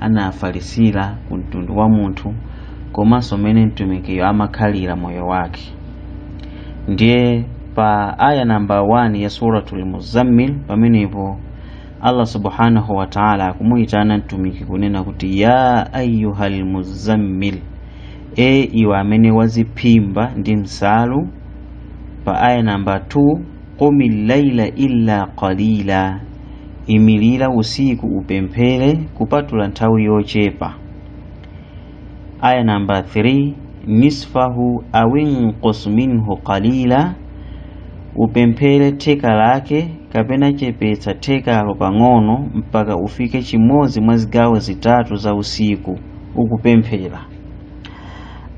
anafalisira ku mtundu wa munthu komanso mmene mtumikiyo amakhalira moyo wake ndiye pa aya namba 1 ya suratul muzammil pamenepo allah subhanahu wa taala akumuyitana mtumiki kunena kuti ya ayuha lmuzammil e iwe amene waziphimba ndi msalu pa aya namba 2 qumi llaila illa qalila imirira usiku upemphere kupatula nthawi yochepa aya namba 3 nisfahu awinqus minhu qalila upemphere theka lake kapena chepetsa thekalo pang'ono mpaka ufike chimodzi mwa zigawo zitatu za usiku ukupemphera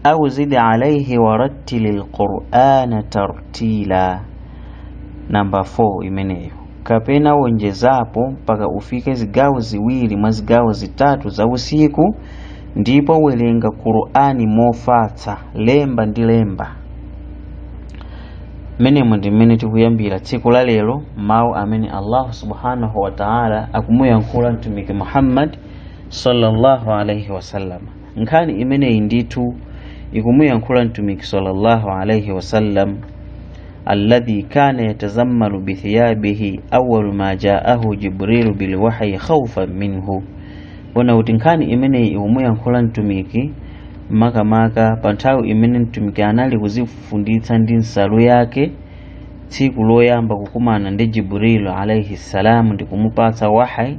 au zid alaihi warattili lqurana tartila namba 4 imeneyo kapena wonjezapo mpaka ufike zigawo ziwiri mwa zigawo zitatu za usiku ndipo werenga qur'ani mofatsa lemba ndi lemba mmenemo ndi mmene tikuyambira tsiku la lero mawu amene allahu subhanahu wa taala akumuyankhula mtumiki muhammad sallallahu alaihi wasallam nkhani imeneyi ndithu ikumuyankhula mtumiki sallallahu alaihi wasallam alladhi kana yatazammalu bithiyabihi awwalu ma jaahu jibrilu bilwahyi khawfan minhu kunena kuti nkhani imeneyi ikumuyankhula mtumiki makamaka pa nthawi imene mtumiki anali kuzifunditsa ndi nsalu yake tsiku loyamba kukumana ndi jibrilu alaihi salamu ndi kumupatsa wahyi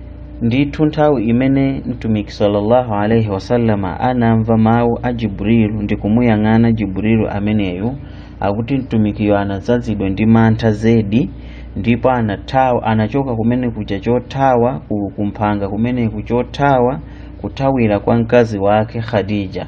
ndithu nthawi imene mtumiki sallallahu alaihi wasallama anamva mawu a jibrilu ndi kumuyang'ana jibrilu ameneyo akuti mtumikiyo anadzazidwa ndi mantha zedi ndipo anathawa anachoka kumene kuja chothawa kumphanga kumeneku chothawa kuthawira kwa mkazi wake khadija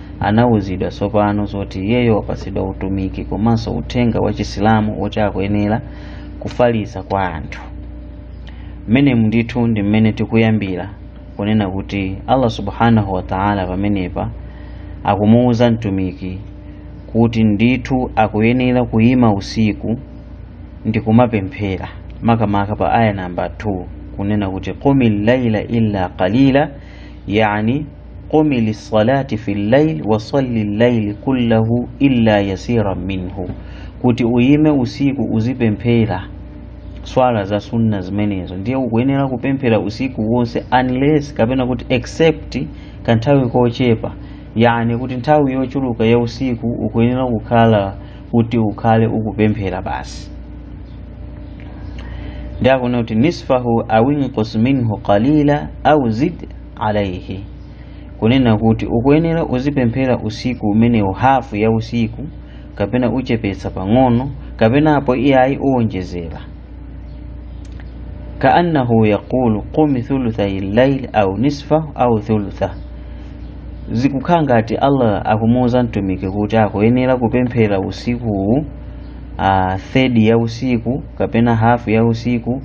anauzidwa tsopano zoti iyeyo wapatsidwa utumiki komanso uthenga wa chisilamu woti akuyenera kufalitsa kwa anthu mmenemu ndithu ndi mmene tikuyambira kunena kuti allah subhanahu wataala pamenepa akumuwuza mtumiki kuti ndithu akuyenera kuyima usiku ndi kumapemphera makamaka pa aya namba 2 kunena kuti qumi llaila illa qalila yani qumi lissalati fi llail wasalli llaili kullahu illa yasiran minhu kuti uyime usiku uzipemphera swala za sunna zimenezo ndiye ukuyenera kupemphera usiku wonse unless kapena kuti except kanthawi kochepa yani kuti nthawi yochuluka ya usiku ukuyenera kukhala kuti ukhale ukupemphera basi ndiye akunena kuti nisfahu awinqus minhu qalila au zid alaihi kunena kuti ukuyenera uzipemphera usiku umenewu hafu ya usiku kapena uchepetsa pang'ono kapena apo iyayi uwonjezera kaannahu yaqulu qumi thuluthai llaili au nisfahu au thulutha zikukhala ngati allah akumuwuza mtumiki kuti akuyenera kupemphera usikuwu uh, thedi ya usiku kapena hafu ya usiku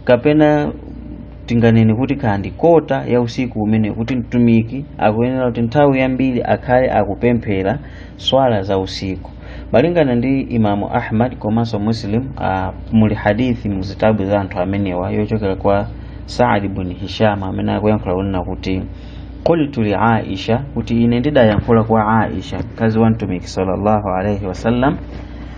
kapena tinganene kuti kaya ndi kota ya usiku umene kuti mtumiki akuyenera kuti nthawi yambiri akhale akupemphera swala za usiku malingana ndi imamu ahmad komanso muslim uh, muli hadithi muzitabu za anthu amenewa yochokera kwa saadi bun hisham amene akuyankhula kunena kuti qultu li aisha kuti ine ndidayankhula kwa aisha mkazi wa mtumiki sallallahu alaihi wasallam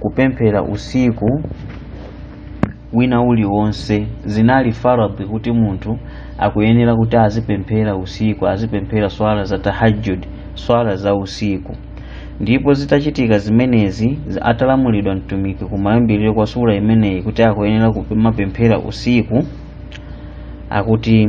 kupemphera usiku wina uliwonse zinali faradhi kuti munthu akuyenera kuti azipemphera usiku azipemphera swala za tahajjud swala za usiku ndipo zitachitika zimenezi zi- atalamulidwa mtumiki kumayambiriro kwa sura imeneyi kuti akuyenera kumapemphera usiku akuti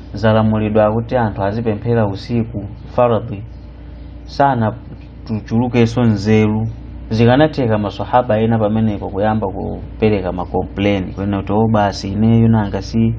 zalamulidwa kuti anthu azipemphera usiku faradhi sanachulukenso nzeru zikanatheka maswahaba ena pamenepo kuyamba kupereka makompleni kunena kuti o basi ineyo nanga si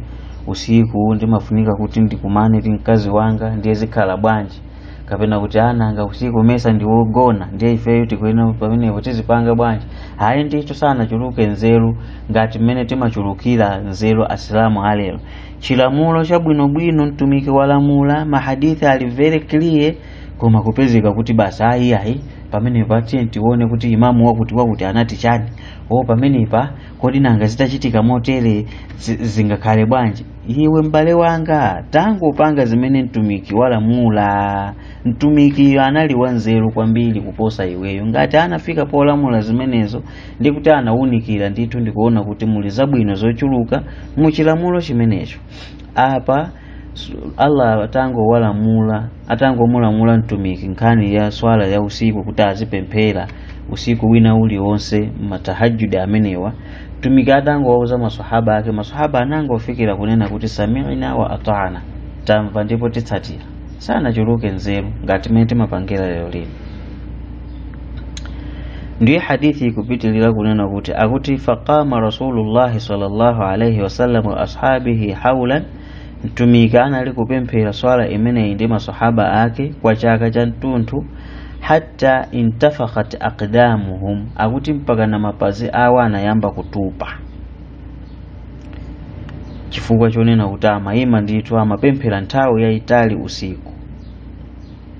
usiku ndimafunika kuti ndikumane ndi mkazi wanga ndiye zikhala bwanji kapena kuti ananga usiku mesa ndiwogona ndiye ifeyo tikuyenera pamenepo tizipanga bwanji ayi ndithu sanachuluke nzeru ngati mmene timachulukira nzeru asilamu alero chilamulo chabwinobwino mtumiki walamula mahadithi ali very clear koma kupezeka kuti basi ayi ayi pamenepa tiyeni tione kuti imamu wakuti wakuti anati chani o pamenepa kodi nanga zitachitika motere zi- zingakhale bwanji iwe m'bale wanga tangopanga zimene mtumiki walamula mtumikiyo anali wanzeru kwambiri kuposa iweyo ngati anafika polamula zimenezo ndi kuti anawunikira ndithu ndikuona kuti muli zabwino zochuluka mu chilamulo chimenecho apa s- allah atangowalamula atangomulamula mtumiki nkhani ya swala ya usiku kuti azipemphera usiku wina uliwonse matahajudi amenewa mtumiki atangowauza maswahaba ake maswahaba anangofikira kunena kuti samina wa atana tamva ndipo titsatira sanachuluke nzeru ngati mmene timapangira lero lino ndiye hadithi ikupitilira kunena kuti akuti faqama rasulullahi sallallahu alaihi wasallam wa ashabihi haulan mtumiki anali kupemphera swala imeneyi ndi masahaba ake kwa chaka cha mtunthu hatta intafakhat aqdamuhum akuti mpaka na mapazi awo anayamba kutupa chifukwa chonena kuti amayima ndithu amapemphera nthawi yayitali usiku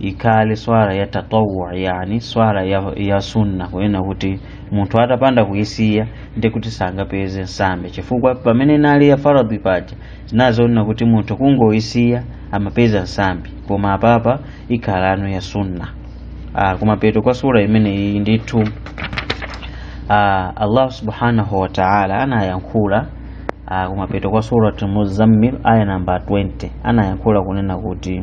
ikhale swala ya tatawwu yani swala ya, ya sunna kunena kuti munthu atapanda kuisiya ndi kuti sangapeze nsambi chifukwa pamene inali ya faradhi paja zinali zonena kuti munthu kungoisiya amapeza nsambi koma apapa ikhalano ya sunna ah, kumapeto kwa sura imeneyi ndithu ah, allah subhanahu wa taala anayankhula ah, kumapeto kwa surati muzammil aya namba 20 anayankhula kunena kuti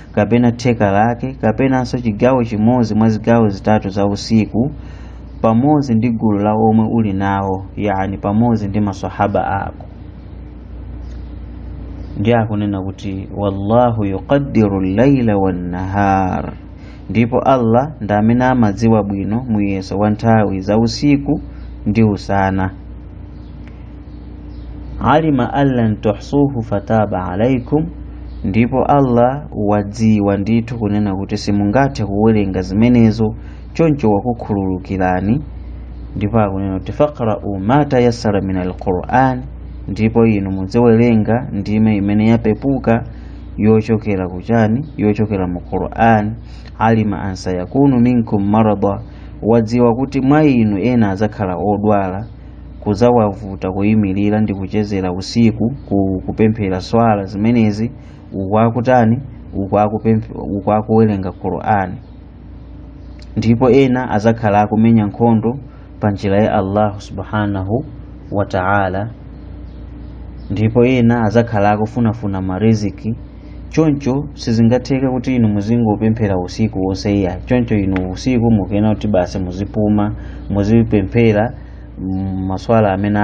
kapena theka lake kapenanso chigawo chimodzi mwa zigawo zitatu za usiku pamodzi ndi gulu la omwe uli nawo yani pamodzi ndi masahaba ako ndiye akunena kuti wallahu yuqaddiru llaila wannahar ndipo allah ndi amene amadziwa bwino muyeso wa nthawi za usiku ndi usana alima allan tuhsuhu fataba alaikum ndipo allah wadziwa ndithu kunena kuti simungathe kuwerenga zimenezo choncho wakukhululukirani ndipo akunena kuti faqra'u ma tayassara min alquran ndipo inu mudziwerenga ndime imene yapepuka yochokera kuchani yochokera mu quran alima an sayakunu minkum marada wadziwa kuti mwa inu ena adzakhala odwala kuzawavuta kuyimirira ndi kuchezera usiku ku, kupemphera swala zimenezi uku akutani uku akuwerenga qur'ani ndipo ena azakhala akumenya nkhondo pa njira ya allahu subhanahu wa ta'ala ndipo ena azakhala akufunafuna mariziki choncho sizingatheke kuti inu muzingopemphera usiku wonse iyayi choncho inu usiku mukuyenera kuti basi muzipuma muzipemphera mm, maswala amene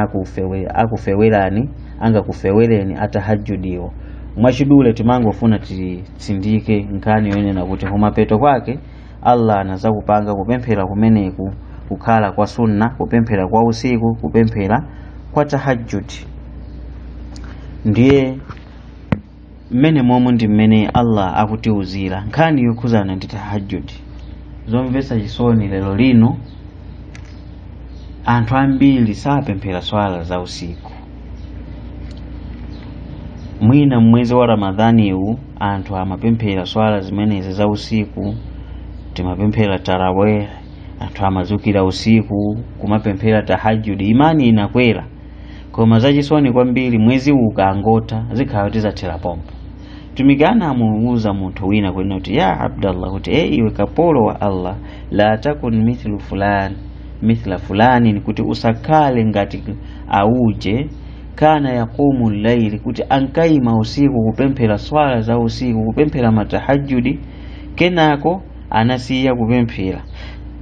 akufewerani angakufewereni atahajudiwo mwachidule timangofuna titsindike nkhani yonena kuti kumapeto kwake allah anazakupanga kupemphera kumeneku kukhala kwa sunna kupemphera kwa usiku kupemphera kwa tahajudi ndiye mmenemomo ndi mmene allah akutiuzira nkhani yokhuzana ndi tahajudi zomvetsa chisoni lero lino anthu ambiri sapemphera swala za usiku mwina mmwezi wa ramadhaniwu anthu amapemphera swala zimenezi za usiku timapemphera taraweh anthu amazukira usiku kumapemphera tahajudi imani inakwera koma zachisoni kwambiri mwezi ukangotha zikhala kuti zathera pompo mtumiki anamuwuza munthu wina kunena kuti ya abdallah kuti e iwe kapolo wa allah la takun mithlu fulani mithla fulanin kuti usakhale ngati auje kana yaqumu llaili kuti ankayima usiku kupemphera swala za usiku kupemphera matahajudi kenako anasiya kupemphera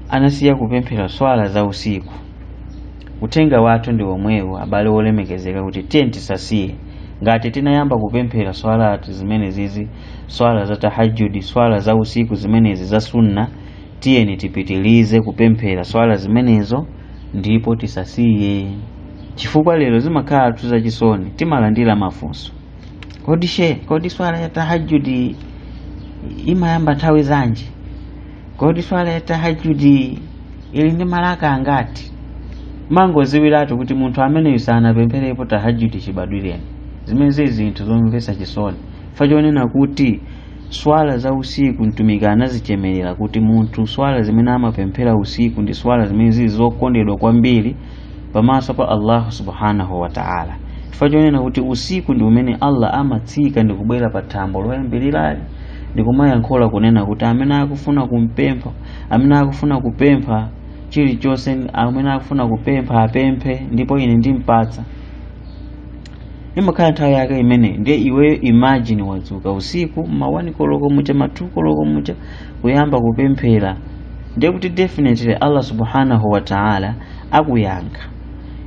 anasiya kupemphera swala za usiku Uthenga wathu ndi womwewu abale wolemekezeka kuti tiyeni tisasiye. Ngati tinayamba kupemphera swala zimenezizi, swala za tahajjud, swala za usiku zimenezi za sunna, tiyeni tipitilize kupemphera swala zimenezo ndipo tisasiye. Chifukwa lero zimakhalatu zachisoni, timalandira mafunso. Kodi she, kodi swala ya tahajjud imayamba nthawi zanji? kodi swala ya tahajudi ili ndi malaka angati mangoziwiratu kuti munthu ameneyu sanapempherepo tahajudi chibadwireni zimene zili zinthu zomvetsa chisoni chifukwa chonena kuti swala za usiku mtumiki anazichemerera kuti munthu swala zimene amapemphera usiku ndi swala zimene zili zokondedwa kwambiri pamaso pa allahu subhanahu wa ta'ala chifukwa chonena kuti usiku ndi umene allah amatsika ndi kubwera pa thambo loyambirirayi ndikumayankhula kunena kuti amene akufuna kumpempha amene akufuna kupempha chilichonse amene akufuna kupempha apemphe ndipo ine ndimpatsa imakhala nthawi yake imene ndiye iweyo imagine wadzuka usiku ma 1 koloko mucha ma 2 koloko mucha kuyamba kupemphera ndiye kuti definitely allah subhanahu wa ta'ala akuyankha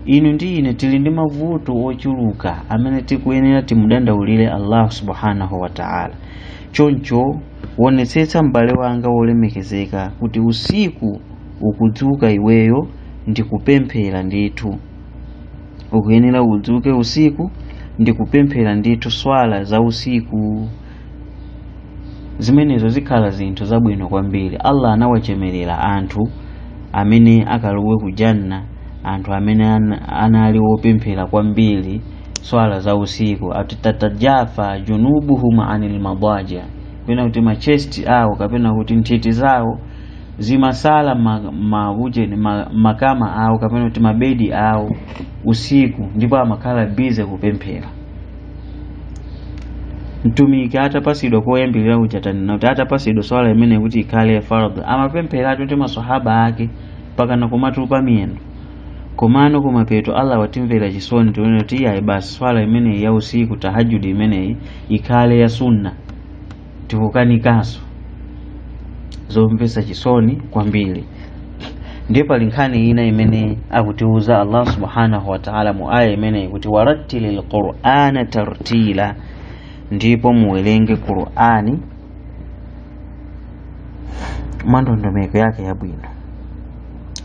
inu ndi ine tili ndi mavuto ochuluka amene tikuyenera timudandaulire allahu subhanahu wataala choncho wonetsetsa m'bale wanga wolemekezeka kuti usiku ukudzuka iweyo ndi kupemphera ndithu ukuyenera udzuke usiku ndi kupemphera ndithu swala za usiku zimenezo zikhala zinthu zabwino kwambiri allah anawachemerera anthu amene akalowe ku janna anthu amene ana- anali wopemphera kwambiri swala za usiku ati tatajafa junubuhum anil madaja kapena kuti machesti awo kapena kuti nthiti zawo zimasala ma- maujeni ma- makama awo kapena kuti mabedi awo usiku ndipo amakhala bize kupemphera mtumiki atapasidwa koyambirira uja tanena kuti atapasidwa swala imeneyi kuti ikhale ya fardh amapemphera ati maswahaba ake pakana kumatupa miyendo komano kumapeto allah watimvera chisoni kunena kuti iyayi basi swala imeneyi ya usiku tahajudi imeneyi ikhale ya sunna tikukanikanso zomvetsa chisoni kwambiri ndiye pali nkhani ina imene akutiuza allah subhanahu wataala mu aya imeneyi kuti warattili lqurana tartila ndipo muwerenge qurani mwandondomeko yake yabwino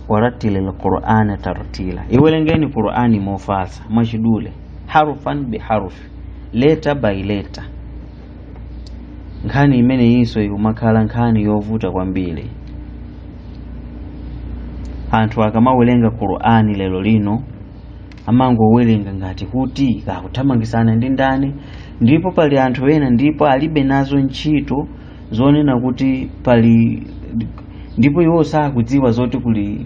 warattili lqurana tartila iwerengeni qurani mofatsa mwachidule harufan biharufi letter by letter nkhani imeneyinso ikumakhala nkhani yovuta kwambiri anthu akamawerenga qur'ani lero lino amangowerenga ngati kuti akuthamangitsana ndi ndani ndipo pali anthu ena ndipo alibe nazo ntchito zonena kuti pali ndipo iwo sakudziwa zoti kuli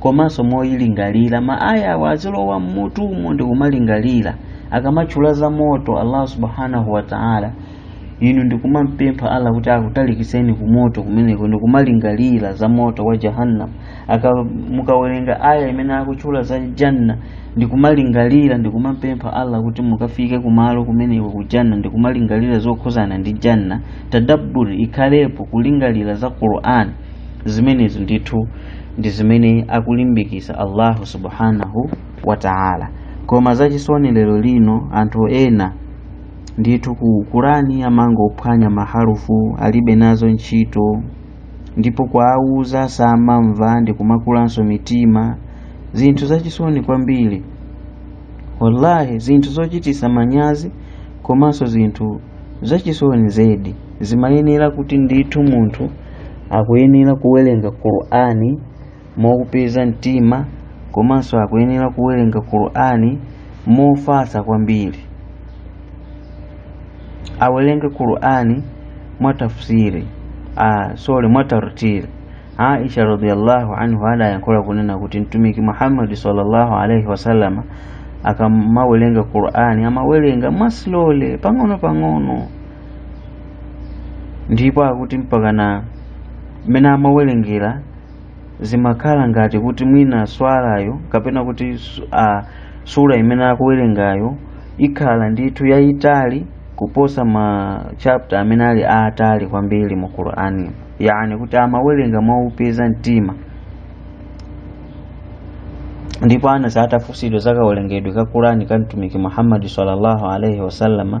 komanso moyilingalira ma aya aja azilowa mmutumo ndi kumalingalira akamatchula za moto allah subhanahu wa ta'ala inu ndikumampempha allah kuti akutalikiseni ku moto kumeneko ndikumalingalira za moto wa jahannam mukawerenga aya imene akutchula za janna ndikumalingalira ndikumampempha allah kuti mukafike kumalo kumeneko ku janna ndikumalingalira zokhuzana ndi janna tadabbur ikhalepo kulingalira za qur'an zimenezo ndithu ndi zimene akulimbikisa allahu subhanahu wa ta'ala koma zachisoni lero lino anthu ena ndithu ku qur'ani amangophwanya maharufu alibe nazo ntchito ndipo kuwawuza samamva ndi kumakulanso mitima zinthu zachisoni kwambiri wallahi zinthu zochitisa manyazi komanso zinthu zachisoni zedi zimayenera kuti ndithu munthu akuyenera kuwerenga qur'ani motsukuluza mtima komanso akuyenera kuwerenga qur'ani mofatsa kwambiri awerenge qur'ani mwa tafsiri ah, sorry mwa tartili aisha radhiallahu anhu adayankhula kunena kuti mtumiki muhammadi sallallahu alaihi wasallama akamawerenga qur'ani amawerenga mwasilole pang'ono pang'ono ndipo akuti mpakana mmene amawerengera zimakhala ngati kuti mwina swalayo kapena kuti su- ah, sura imene akuwerengayo ikhala ndithu yayitali kuposa ma chapter amene ali aatali kwambiri mu qur'ani yani kuti amawerenga mwaupeza mtima ndipo anasi atafunsidwa za kawerengedwe ka qur'ani ka mtumiki muhammadi sallallahu alaihi wasallama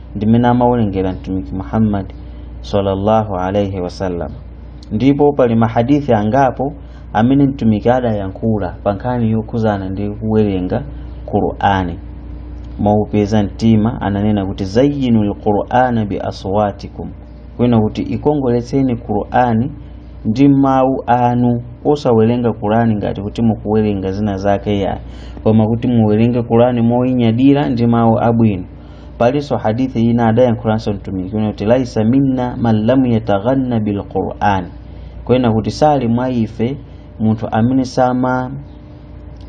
ndimene amawerengera mtumiki muhammad sallallahu alaihi wasallam ndipo pali mahadithi angapo amene mtumiki adayankhula pa nkhani yokhuzana ndi kuwerenga qur'ani mwaupeza mtima ananena kuti zayyinu lqur'ana bi aswatikum kunena kuti ikongoletseni qur'ani ndi mawu anu osawerenga qur'ani ngati kuti mukuwerenga zina zake yayi koma kuti muwerenge qur'ani moyinyadira ndi mawu abwino palinso hadithi ina adayankhulanso mtumiki kunena kuti laisa minna man lam yataghanna bilqur'an kunena kuti sali mwa ife munthu amene sama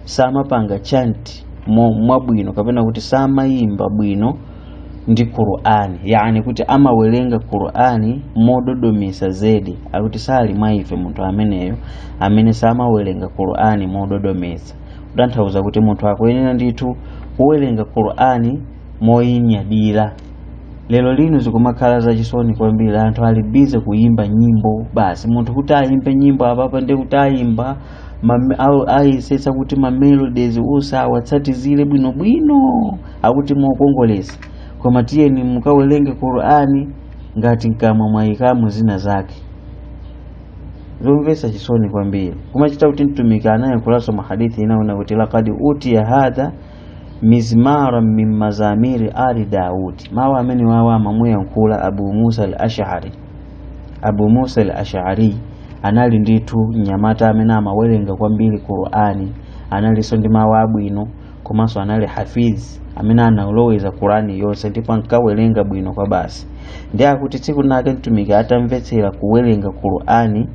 samapanga chanti mo- mwabwino kapena kuti samayimba bwino ndi qur'ani yani kuti amawerenga qur'ani mododomesa zedi akuti sali mwa ife munthu ameneyo amene samawerenga qur'ani mododomesa kutanthauza kuti munthu akuyenera ndithu kuwerenga qur'ani moyinyadira lero lino zikumakhala zachisoni kwambiri anthu ali bize kuyimba nyimbo basi munthu kuti ayimbe nyimbo apapa ndi kuti ayimba mame- au- ayesetsa kuti mamelodies uzawatsatizire bwinobwino akuti mokongolesa koma tiyeni mukawerenge qur'ani ngati mkamwa mwayikamo zina zake zomvetsa chisoni kwambiri kumachita kuti mtumiki anayankhulanso mwahadithi ina kunena kuti lakad utiya hadha mizmara min mazamiri ali daudi mawu amenewa amamuyankhula abu musa al ashari abu musa al ashari anali ndithu mnyamata amene amawerenga kwambiri qur'ani analinso ndi mawu abwino komanso anali hafiz amene analoweza kurani yonse ndipo ankawerenga bwino kwa basi ndiye akuti tsiku linake mtumiki atamvetsera kuwerenga qurani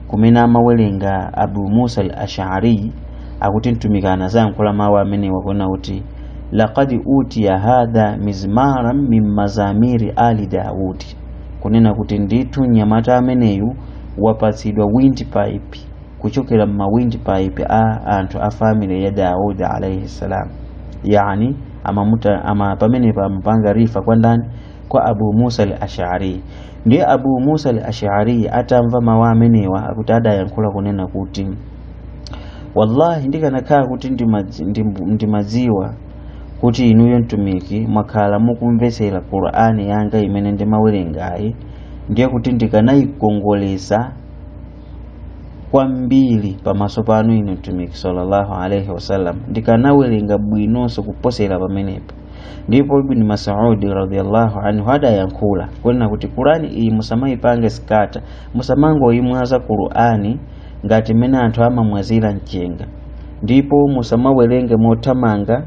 kumene amawerenga abu musa al ashariyi akuti mtumiki anazayankhula mawu amenewa kunena kuti laqad utiya hadha mizmaran min mazamiri ali daudi kunena kuti ndithu mnyamata ameneyu wapatsidwa windpipe kuchokera ma windpipe a anthu a family ya daudi alaihi salam yani pamenepa amapanga refer kwa ndani kwa abu musa al ashari ndiye abu musa al ashari atamva mawu amenewa akuti adayankhula kunena kuti wallahi ndikanakhala kuti ndimadzi- ndim- ndimadziwa kuti inuyo mtumiki mwakhala mukumvetsera qur'ani yanga imene ndimawerengayi ndiye kuti ndikanayikongoletsa kwambiri pamaso panu inu mtumiki sallallahu alaihi wasallam ndikanawerenga bwinonso kuposera pamenepo ndipo ibni masudi radiallahu anhu adayankhula kunena kuti kurani iyi musamayipange scatter musamangoyimwaza kurani ngati mmene anthu amamwazira mchenga ndipo musamawerenge mothamanga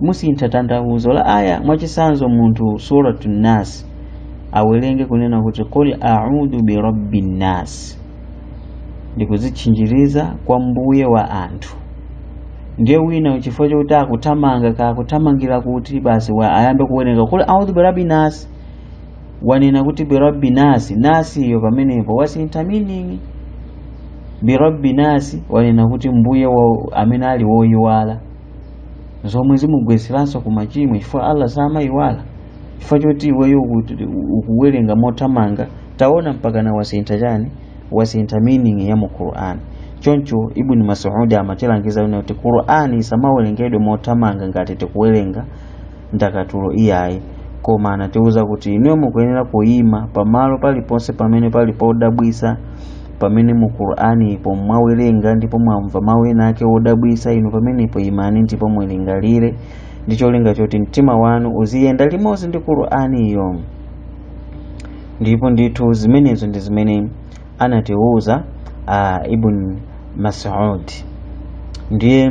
musintha tanthauzo la aya mwachisanzo munthu suratu nas awerenge kunena kuti qul audu birabbi nnas ndikuzitchinjiriza kwa mbuye wa anthu ndiye wina chifukwa chokuti akuthamanga kakuthamangira kuti basi ayambe kuwerenga qul audu birabbi nasi wanena kuti birabbi nasi nasi iyo pamenepo wasintha meaning birabbi nasi wanena kuti mbuye wa amene ali woyiwala zomwe zimugwetseranso ku machimo chifukwa allah samayiwala chifukwa choti iweyo uku- ukuwerenga mothamanga taona mpakana wasintha chani wasintha meaning ya mu quran choncho ibn masudi amatilangiza kuti quran isamawerengedwe mothamanga ngati tikuwerenga ndakatulo iyayi koma anatiwuza kuti inuyo mukuyenera kuyima pamalo paliponse pamene pali podabwisa pamene mu qur'ani po mwawerenga ndipo mwamva mawu ena ake odabwisa inu pamenepo imani ndipo mulingalire ndi cholinga choti mtima wanu uziyenda limodzi ndi qur'aniyo ndipo ndithu zimenezo ndi zimene anatiwuza uh, ibn masud ndiye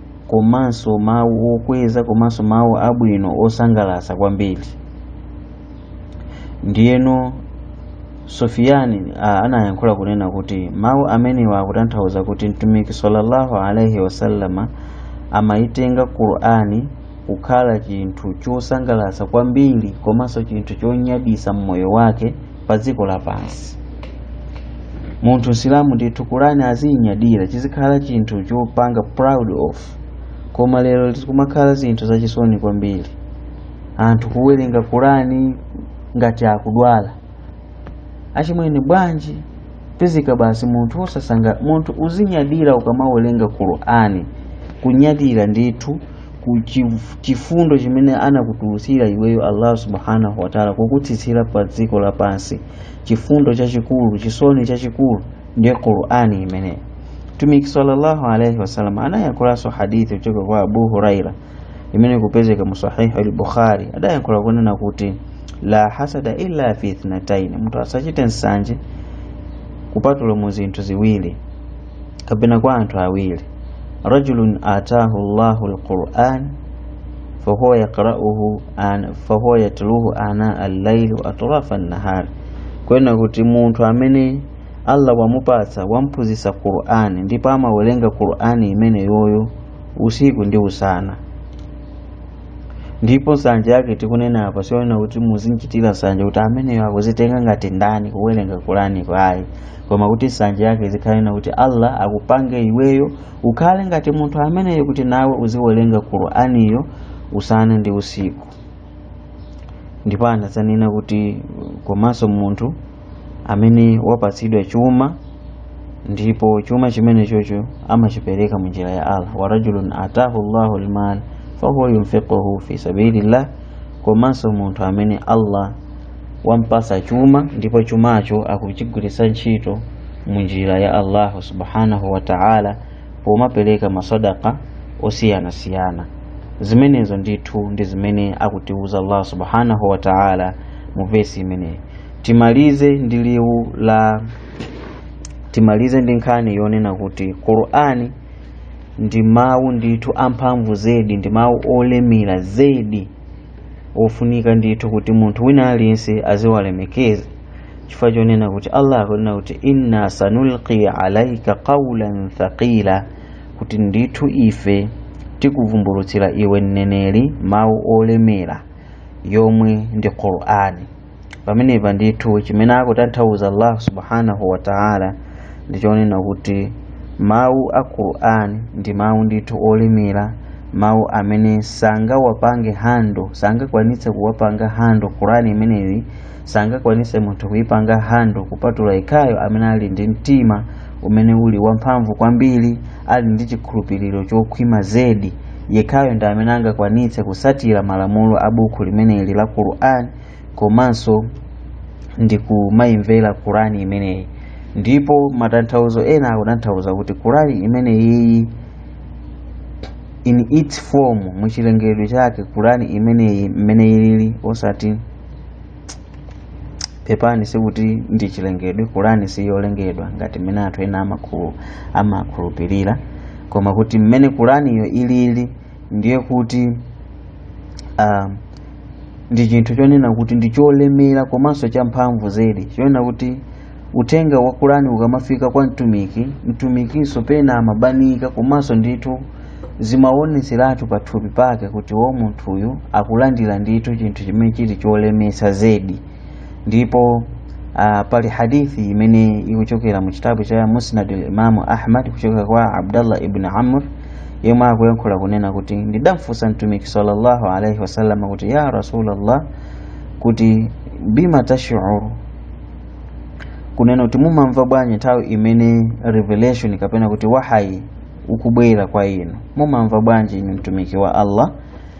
komanso mawu okweza komanso mawu abwino osangalatsa kwambiri ndiyeno sufiyani ah, anayankhula kunena kuti mawu amenewa akutanthauza kuti mtumiki sallallahu alaihi wasallama amayitenga qur'ani kukhala chinthu chosangalatsa kwambiri komanso chinthu chonyadisa mmoyo wake pa dziko lapansi munthu msilamu ndithu kurani aziyinyadira izikhala chinthu chopanga proud of koma lero zikumakhala zinthu zachisoni kwambiri anthu kuwerenga kurani ngati akudwala achimwene bwanji pezeka basi munthu osasangalala munthu uzinyadira ukamawerenga kurani kunyadira ndithu ku chif- chifundo chimene anakutulutsira iweyo allah subhanahu wataala kukutsitsira pa dziko lapansi chifundo chachikulu chisoni chachikulu ndiye qurani imeneyo mtumiki sallallahu alaihi wasallam anayankhulanso hadithi kuchoka kwa abu huraira imene ikupezeka mu sahihu al-bukhari adayankhula kunena kuti la hasada illa fi ithnataini munthu asachite nsanje kupatula mu zinthu ziwiri kapena kwa anthu awiri rajulun atahu llahu lquran fahuwa yaqrauhu an- fahuwa yatluhu ana allaili wa atrafa nnahari kunena kuti munthu amene allah wamupatsa wamphunzitsa qur'ani ndipo amawerenga qur'ani imeneyoyo usiku ndi usana ndipo nsanje yake tikunena apa si yonena kuti muzimuchitira nsanje kuti ameneyo akuzitenga ngati ndani kuwerenga qur'ani ayi koma kuti nsanje yake izikhale yonena kuti allah akupange iweyo ukhale ngati munthu ameneyo kuti nawe uziwerenga qur'aniyo usana ndi usiku ndipo anadzanena kuti komanso munthu amene wapatsidwa chuma ndipo chuma chimenechocho amachipereka mu njira ya allah wa rajulun atahu llahu lmal fahuwa yunfiquhu fi sabilillah komanso munthu amene allah wampasa chuma ndipo chumacho akuchigwiritsa ntchito mu njira ya allahu subhanahu wa ta'ala pomapereka masadaka osiyanasiyana zimenezo ndithu ndi zimene akutiuza allah subhanahu wa ta'ala mu vesi imeneyi timalize ndi liwu la timalize ndi nkhani yonena kuti qur'ani ndi mawu ndithu amphamvu zedi ndi mawu olemera zedi ofunika ndithu kuti munthu wina aliyense aziwalemekeza chifukwa chonena kuti allah akunena kuti inna sanulqi alaika qaulan thaqila kuti ndithu ife tikuvumbulutsira iwe mneneri mawu olemera yomwe ndi qur'ani pamenepa ndithu chimene akutanthauza Allah subhanahu wa ta'ala ndi chonena kuti mawu a Qur'an ndi mawu ndithu olemera mawu amene sangawapange handle sangakwanitse kuwapanga handle Qur'an imeneyi sangakwanitse munthu kuipanga handle kupatula yekhayo amene ali ndi mtima umene uli wamphamvu kwambiri ali ndi chikhulupiriro chokhwima zedi yekhayo ndi amene angakwanitse kusatira malamulo a buku limeneli la Qur'an komanso ndikumayimvera kurani imeneyi ndipo matanthauzo ena akutanthauza kuti kurani imeneyiyi in its form muchilengedwe chake kurani imeneyi mmene ilili osati pepani sikuti ndi chilengedwe kurani siyolengedwa ngati mmene anthu ena amakhulu- amakhulupirira koma kuti mmene kuraniyo ilili ndiye kuti uh, ndi chinthu chonena kuti ndi cholemera komanso champhamvu zedi chonena kuti uthenga wa kurani ukamafika kwa mtumiki mtumikinso pena amabanika komanso ndithu zimaoneseratu pathupi pake kuti wo munthuyu akulandira ndithu chinthu chimene chili cholemetsa zedi ndipo uh, pali hadithi imene ikuchokera mu chitabu cha musnad al-imamu ahmad kuchokera kwa abdallah ibn amr yemwe akuyankhula kunena kuti ndidamfunsa mtumiki sallallahu alaihi wasallam kuti ya rasulallah kuti bima tashuru kunena kuti mumamva bwanji nthawi imene revelation kapena kuti wahayi ukubwera kwa inu mumamva bwanji inu mtumiki wa allah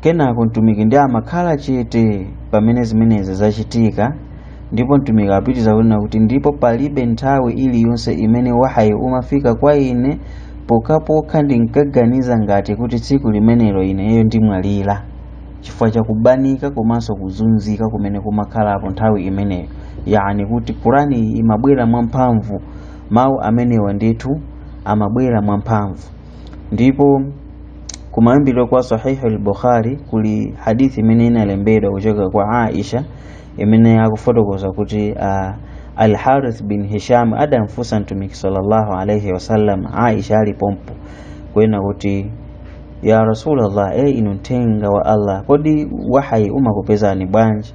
kenako mtumiki ndi amakhala chete pamene zimenezi zachitika ndipo mtumiki apitiriza kunena kuti ndipo palibe nthawi iliyonse imene wahayi umafika kwa ine pokhapokha ndinkaganiza ngati kuti tsiku limenelo ineyo ndimwalira chifukwa cha kubanika komanso kuzunzika kumene kumakhalapo nthawi imeneyo yani kuti kurani iyi imabwera mwamphamvu mawu amenewa ndithu amabwera mwamphamvu ndipo kumayambiro kwa sahihi al-bukhari kuli hadithi imene inalembedwa kuchoka kwa aisha imene akufotokoza kuti uh, al-harith bin hisham adamfunsa mtumiki sallallahu alaihi wasallam aisha ali pompo kunena kuti ya rasulallah e inu mthenga wa allah kodi wahayi umakupezani bwanji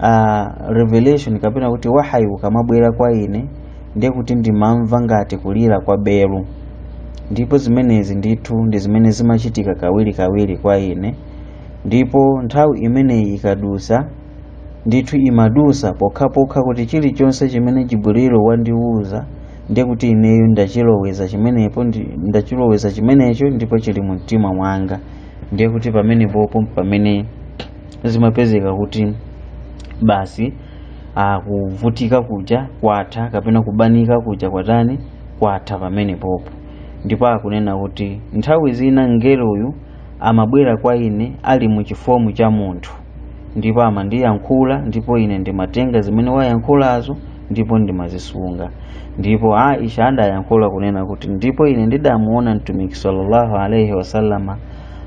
uh, revelation kapena kuti wahayi ukamabwera kwa ine ndiye kuti ndimamva ngati kulira kwa belu ndipo zimenezi ndithu ndi zimene zimachitika kawirikawiri kwa ine ndipo nthawi imeneyi ikadusa ndithu imadusa pokhapokha kuti chilichonse chimene jibrilu wandiwuza ndiye kuti ineyo ndachiloweza chimenepo ndi- ndachiloweza chimenecho ndipo chili mu mtima mwanga ndiye kuti pamenepopo pamene zimapezeka kuti basi ah, kuvutika kuja kwatha kapena kubanika kuja kwatani kwatha pamenepopo ndipo akunena kuti nthawi zina mngeloyu amabwera kwa ine ali mu chifomu cha munthu ndipo amandiyankhula ndipo ine ndimatenga zimene wayankhulazo ndipo ndimazisunga ndipo aisha adayankhula kunena kuti ndipo ine ndidamuona mtumiki sallallahu alaihi wasallama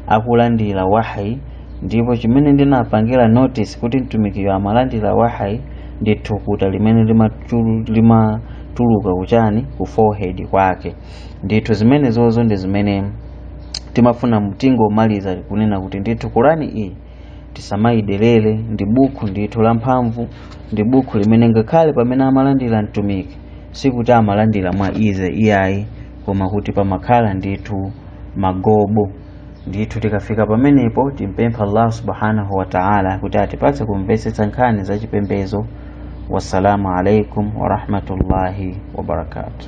akulandira wahayi ndipo chimene ndinapangira notice kuti mtumikiyo amalandira wahayi ndi thukuta limene limatulu- limatuluka kuchani ku forehead kwake ndithu zimenezozo ndi zimene timafuna tingomaliza kunena kuti ndithu Qur'ani iyi tisamayidelere ndi bukhu ndithu lamphamvu ndi bukhu limene ngakhale pamene amalandira mtumiki sikuti amalandira mwa easy iyayi koma kuti pamakhala ndithu magobo ndithu tikafika pamenepo timpempha allah subhanahu wa taala kuti atipatse kumvetsetsa nkhani za chipembedzo wassalamu alaikum warahmatullahi wabarakatuh